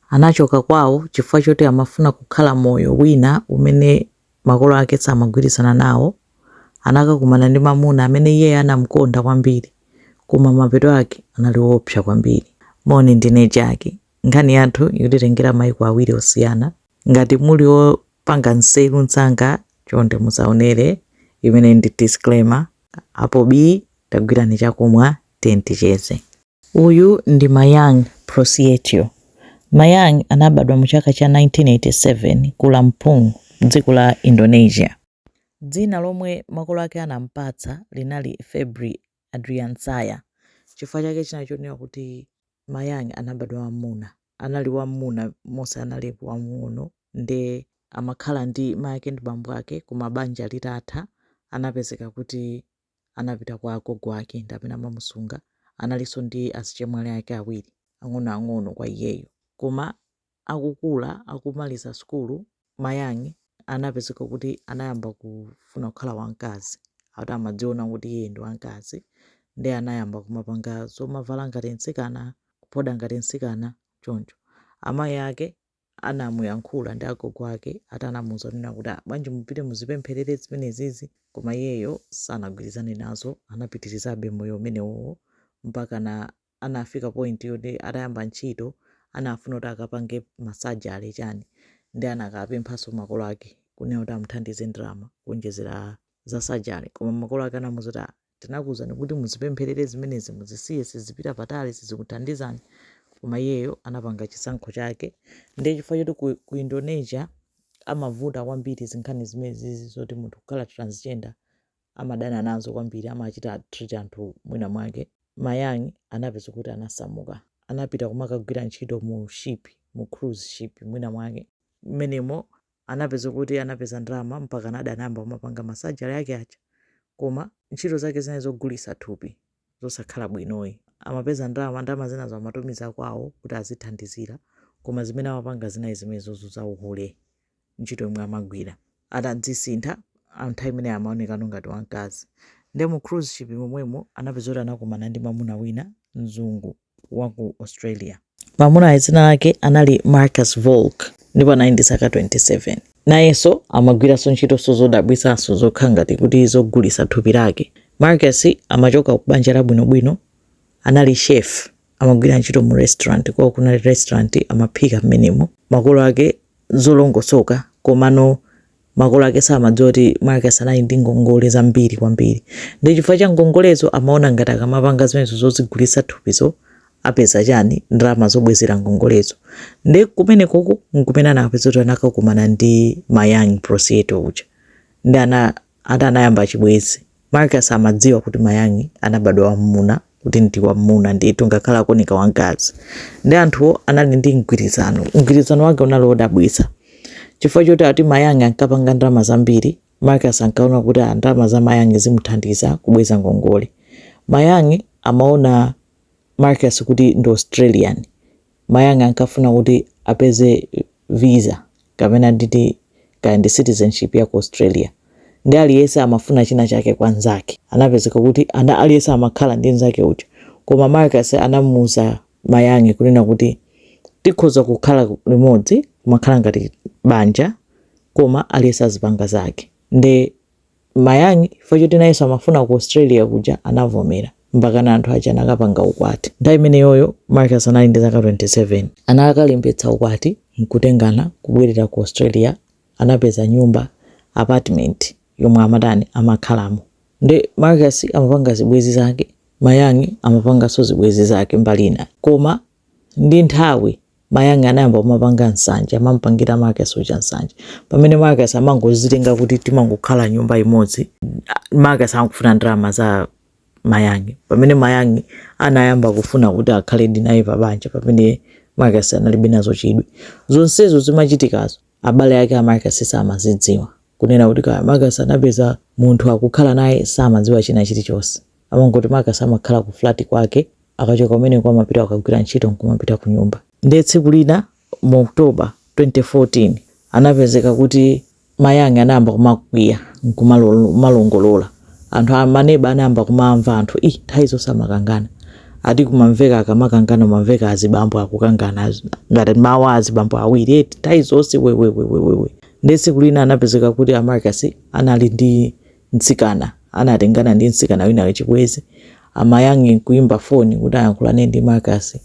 Anachoka kwawo chifukwa choti amafuna kukhala moyo wina umene makolo ake samagwirizana nawo. Anakakumana ndi mwamuna amene iye anam'konda kwambiri, koma mapeto ake anali oopsa kwambiri. Moni, ndine Jackie. Nkhani yathu ikutitengera mayiko awiri osiyana. Ngati muli mpamba nzeru msanga, chonde musaonere. Imeneyi ndi disclaimer. Apo bii, tagwirani chakumwa, tiyeni ticheze. Uyu ndi Mayang Prosietio. Mayang anabadwa mu chaka cha 1987 ku Lampung, mdziko la Indonesia. Dzina lomwe makolo ake anampatsa linali Febri Adriansaya. Chifukwa chake chinali chonena kuti Mayang anabadwa wammuna. Anali wammuna monse anali wamng'ono nde amakhala ndi mayake ndi bambo ake koma banja litatha anapezeka kuti. anapita kwa agogo ake ndi pamene amamusunga analinso ndi azichemwali ake awiri ang'onoang'ono kwa iyeyo koma akukula akumaliza sukulu mayang anapezeka kuti anayamba kufuna kukhala wamkazi ati amadziona kuti iye ndi wamkazi ndi anayamba kumapanga zomavala ngati mtsikana kuphoda ngati mtsikana choncho amayi ake anamuyankhula ndi agogo ake ati anamuuza kunena kuti ah, bwanji mupite muzipempherere zimenezizi koma iyeyo sanagwirizane nazo anapitirizabe moyo umenewowo mpaka anafika point yoti atayamba ntchito anafuna kuti akapange masajale chani ndi anakapemphanso makolo ake kunena kuti amuthandize ndalama kuonjezera za sajale koma makolo ake anamuuza kuti ah, tinakuuzani kuti muzipempherere zimenezi muzisiye sizipita patali sizikuthandizani koma iyeyo anapanga chisankho chake ndiye chifukwa choti ku, ku indonesia amavuta kwambiri zinkhani zimenezizi zoti munthu kukhala transgender amadana nazo kwambiri amachita treat anthu mwina mwake mayang anapeza kuti anasamuka anapita kumakagwira ntchito mu ship mu cruise ship mwina mwake mmenemo anapeza kuti anapeza ndalama mpakanadi anayamba kumapanga ma surgery ake aja koma ntchito zake zinali zogulitsa thupi zosakhala bwinoyi amapeza ndalama ndalama zinazo amatumiza kwawo kuti azithandizira koma zimene amapanga zinali zimenezozo za uhule ntchito yomwe amagwira atadzisintha nthawi imeneyo amaonekano ngati wamkazi nde mu cruise ship momwemo anapeza kuti anakumana ndi mamuna wina mzungu wa ku Australia. Mwamunayo dzina lake anali Marcus Volk ndipo anali ndi zaka 27. Nayenso amagwiranso ntchitonso zodabwitsanso zokhala ngati kuti zogulitsa thupi lake. Marcus amachoka ku banja labwinobwino, anali chef, amagwira ntchito mu restaurant, kwawo kunali restaurant, amaphika m'menemo. Makolo ake zolongosoka komano Makolo ake samadziwa kuti Marcus anali ndi ngongole zambiri kwambiri. Ndiye chifukwa cha ngongolezo amaona ngati akamapanga zimenezo zozigulitsa thupizo apeza chani? Ndalama zobwezera ngongolezo. Ndiye kumenekoko n'kumene anapezeka kuti anakakumana ndi Mayang Prasetyo uja. Ndiye ana, ati anayamba chibwenzi. Marcus amadziwa kuti Mayang anabadwa wammuna kuti ndi wammuna ndithu ngakhale akuoneka wamkazi ndiye anthuwo anali ndi mgwirizano mgwirizano wake unali wodabwitsa chifukwa choti ati Mayang ankapanga ndalama zambiri Marcus ankaona kuti ah, ndalama za Mayang zimuthandiza kubweza ngongole Mayang amaona Marcus kuti ndi Australian Mayang ankafuna kuti apeze visa kapena nditi kaya ndi citizenship ya ku Australia nde aliyese amafuna china chake kwa nzake. Anapezeka kuti aliyese amakhala ndi nzake uja koma Marcus anamuuza Mayang kunena kuti tikhoza kukhala limodzi kumakhala ngati banja koma aliyese azipanga zake nde Mayang, chifukwa choti nayenso amafuna ku Australia kuja anavomera. Mpakana anthu aja anakapanga ukwati. Nthawi imeneyoyo Marcus anali ndi zaka 27. Anakalembetsa ukwati n'kutengana kubwerera ku Australia. Anapeza nyumba, apartment, yomwe amatani, amakhalamo. Nde Marcus amapanga zibwenzi zake, Mayang amapanganso zibwenzi zake mbali inayo. Koma ndi nthawi Mayang anayamba kumapanga nsanje, amamupangira Marcus uja nsanje. Pamene Marcus amangozitenga kuti timangokhala nyumba imodzi, Marcus ankafuna ndalama za Mayang Pamene Mayang anayamba kufuna kuti akhaledi naye pa banja, pamene Marcus analibe nazo chidwi. Zonsezo zimachitikazo, abale ake a Marcus samazidziwa. Kunena kuti kaya Marcus anapeza munthu akukhala naye, samadziwa china chilichonse. amangoti Marcus amakhala ku flat kwake akachoka kumeneko amapita kukagwira ntchito nkumapita kunyumba ndiye tsiku lina mu October 2014 anapezeka kuti Mayang anayamba kumakwiya nkumalongolora anthu amaneba anayamba kumamva anthu nthawi zonse amakangana ati kumamveka akamakangana kumamveka azibambo akukangana ngati mawu a azibambo awiri eti nthawi zonse wewewewewewe ndiye tsiku lina anapezeka kuti a Marcus anali ndi Mtsikana anatengana ndi mtsikana wina wa chibwenzi. A Mayang n'kuimba foni kuti ayankhulane ndi Marcus.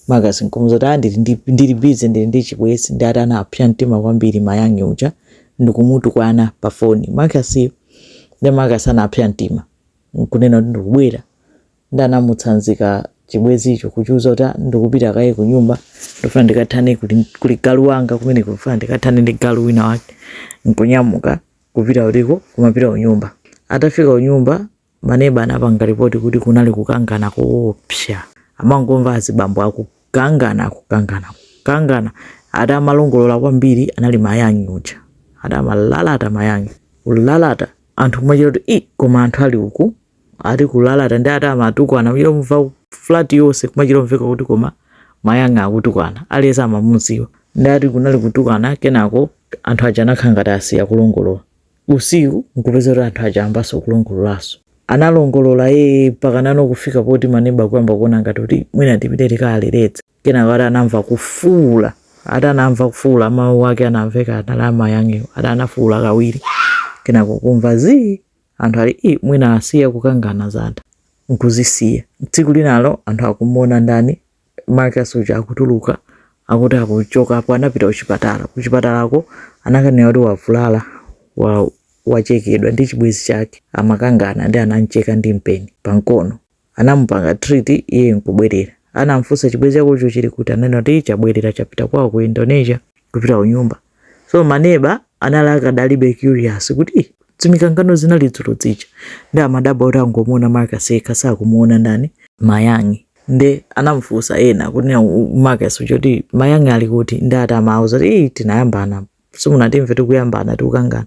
Marcus n'kumuuza kuti, ah, ndili ndi, ndili busy, ndili ndi chibwenzi. Ndiye ati anapsa mtima kwambiri Mayang uja ndikumutukwana pa foni Marcus-yo. Ndiye Marcus anapsa mtima n'kunena kuti ndikubwera. Ndiye anamutsanzika chibwenzicho kuchiuza kuti, ah, ndikupita kaye ku nyumba, ndikufuna ndikathane kuli, kuli galu wanga kumeneko, ndikufuna ndikathane ndi galu wina wake. N'kunyamuka. kupita uliko kumapita unyumba atafika unyumba maneba anapanga ripoti kuti kunali kukangana koopsa amangomva azibambo akukangana akukangana kukangana ati amalongolola kwambiri anali Mayang uja ati amalalata Mayang kulalata anthu kumachita kuti i koma anthu ali uku ati kulalata ndi ati amatukwana kuchita kumva flat yonse kumachita kumveka kuti koma Mayang akutukwana aliyense amamuziwa ndi ati kunali kutukwana kenako anthu aja anakhala ngati asiya kulongolola usiku nkupeza kuti anthu aja ayambaso kulongololaso analongolola ye mpakana kufika poti maneba kuyamba kuona ngati kuti mwina tipite tikaaleretse kenako ati anamva kufuula ati anamva kufuula mawu ake anamveka anali a Mayang ati anafuula kawiri kenako kumva zii anthu ali i mwina asiya kukangana zatha nkuzisiya tsiku linalo anthu akumuona ndani marcus uja akutuluka akuti akuchoka apo anapita kuchipatala kuchipatalako anakanena kuti wavulala wa, wachekedwa ndi chibwezi chake amakangana ndi anamcheka ndi mpeni pamkono Anamupanga treat iye nkubwerera. Anamufunsa chibwezi chakocho chili kuti ananena kuti chabwerera chapita kwao ku Indonesia. kupita kunyumba. So ma neba anali akadalibe curious kuti ih dzimikangano zinali dzulo dzija. Nde amadabwa kuti angomuona Marcus yekha sakumuona ndani? Mayang. Nde anamufunsa ena kunena u Marcus uja kuti Mayang ali kuti? Nde ati amauza kuti ih tinayambana apa. simunatimve tikuyambana tikukangana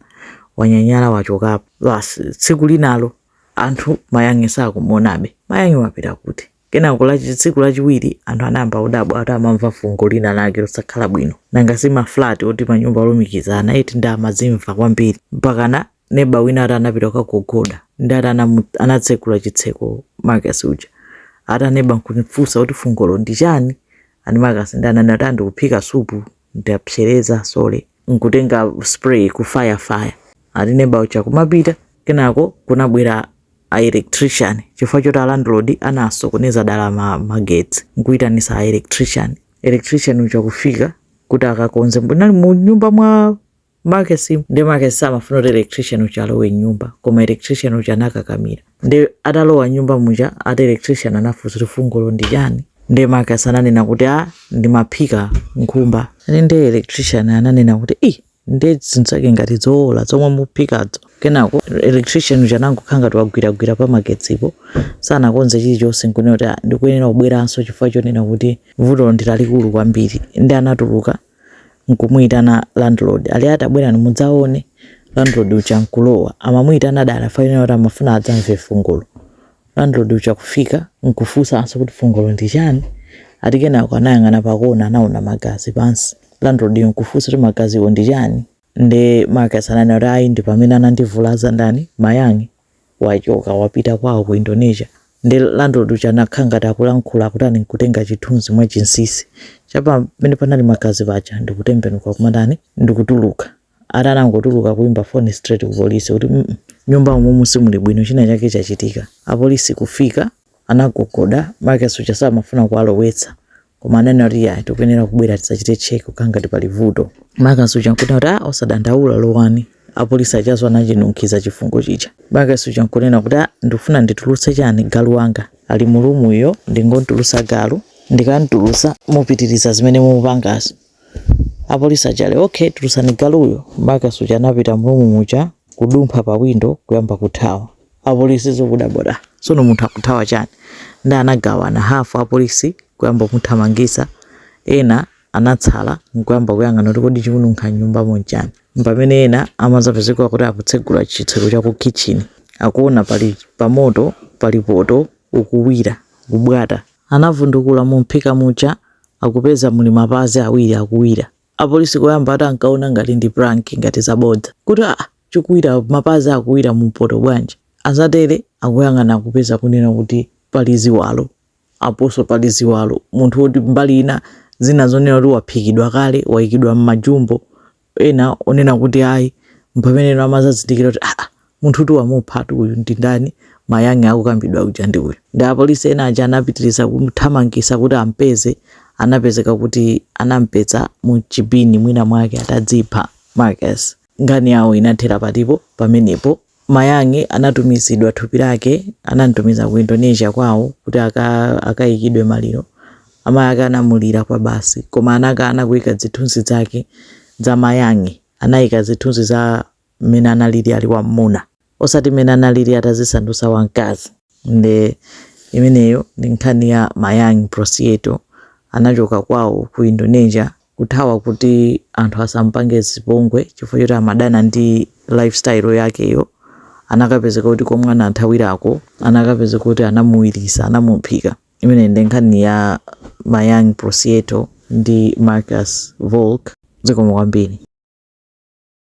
wanyanyala wachokapo basi tsiku linalo anthu Mayang sakumuonabe Mayang wapita kuti kenako lachi- tsiku lachiwiri anthu anayamba kudabwa kuti amamva fungo lina lake losakhala bwino nanga si maflat oti manyumba olumikizana eti ndi amazimva kwambiri mpakana neba wina ati anapita kukagogoda ndi ati anamu- anatsekula chitseko marcus uja ati aneba nkumufunsa kuti fungolo ndi chani ani Marcus ndi ananena ati a ndikuphika supu ndapsereza sorry nkutenga spray kufayira fayira ati neba uja kumapita kenako kunabwera a electrician chifukwa choti a landlord anasokoneza dala ma magetsi nkuitanisa a electrician electrician uja kufika kuti akakonze mbonali mu nyumba mwa Marcus nde Marcus samafuna kuti electrician uja alowe mnyumba koma electrician uja anakakamira nde atalowa mnyumba muja ati electrician anafunsa kuti fungolo ndi chani nde Marcus ananena kuti a ndimaphika nkhumba ani nde electrician ananena kuti i nde zinazake ngati zoola zomwe muphikadzo kenako electrician uja anangokhala ngati wagwiragwira pa magetsipo sanakonze chilichonse nkunena kuti "Ah, ndikuyenera kubweranso chifukwa chonena kuti vuto ndi lalikulu kwambiri ndi anatuluka nkumuyitana landlord ali ah tabwerani mudzaone landlord uja nkulowa amamuyitana dala fayenera kuti amafuna adzamve fungolo landlord uja kufika nkufunsanso kuti fungolo ndi chani ati kenako anayang'ana pakona anaona magazi pansi landlord yo nkufunsa kuti magaziwo ndi chani nde marcus ananena kuti ayi ndi pamene anandivulaza ndani mayang wachoka wapita kwawo ku Indonesia ndi landlord uja anakhala ngati akulankhula akutani nkutenga chithunzi mwa chinsisi cha pa pamene panali magazi paja ndikutembenuka kumatani ndikutuluka ati anangotuluka kuimba phone straight ku polisi kuti "Mm, mm, nyumba umumu simuli bwino china chake chachitika apolisi kufika anagogoda, marcus uja samafuna kuwalowetsa koma ananena kuti ya tikuyenera kubwera tizachite check kukhala ngati pali vuto marcus uja nkunena kuti ah osadandaula lowani apolisi aja so anachinunkhiza chifungo chija marcus uja nkunena kuti ah ndikufuna nditulutse chani galu wanga ali mu roomuyo ndingomtulusa galu ndikamtulusa mupitiriza zimene mupangazo apolisi aja ali okay tulusani galuyo marcus uja anapita mu room muja kudumpha pa window kuyamba kuthawa apolisi so kudabwa da sono munthu akuthawa chani ndi anagawana hafu apolisi kuyamba kumuthamangisa ena anatsala nkuyamba kuyang'ana kuti kodi chikununkha nyumbamo nchani mpamene ena amazapezeka kuti akutsegula chitseko cha ku kitchen akuona pali pamoto pali poto ukuwira kubwata anavundukula mumphika muja akupeza muli mapazi awiri akuwira apolisi koyamba ati ankaona ngati ndi prank ngati zabodza kuti ah chikuwira mapazi akuwira mu mpoto bwanji azatere akuyang'ana akupeza kunena kuti pali ziwalo aponso pali ziwalo munthu woti mbali ina zina zonena kuti waphikidwa kale waikidwa mmajumbo ena onena kuti ayi mpameneno amazazindikira kuti aa munthu kuti wamuphatu uyu ndi ndani mayang akukambidwa uja ndi uyu ndi apolisi ena aja anapitiriza kumthamangisa kuti ampeze anapezeka kuti anampeza mu chibini mwina mwake atadzipha marcus Nkhani yawo inathera patipo pamenepo. Mayang anatumizidwa thupi lake, anamtumiza ku Indonesia kwawo kuti aka, akaikidwe maliro. Amayi ake anamulira kwabasi, koma anakana kuika zithunzi zake za Mayang. Anaika zithunzi za mmene analili ali wam'muna. osati mmene analili atazisandusa wamkazi nde imeneyo ndi nkhani ya mayang prasetyo anachoka kwawo ku indonesia kuthawa kuti anthu asamupange zipongwe chifukwa choti amadana ndi life style yakeyo anakapezeka kuti komwe anathawirako anakapezeka kuti anamuwirisa anamuphika imeneyi ndi nkhani ya mayang prasetyo ndi marcus volke zikomo kwambiri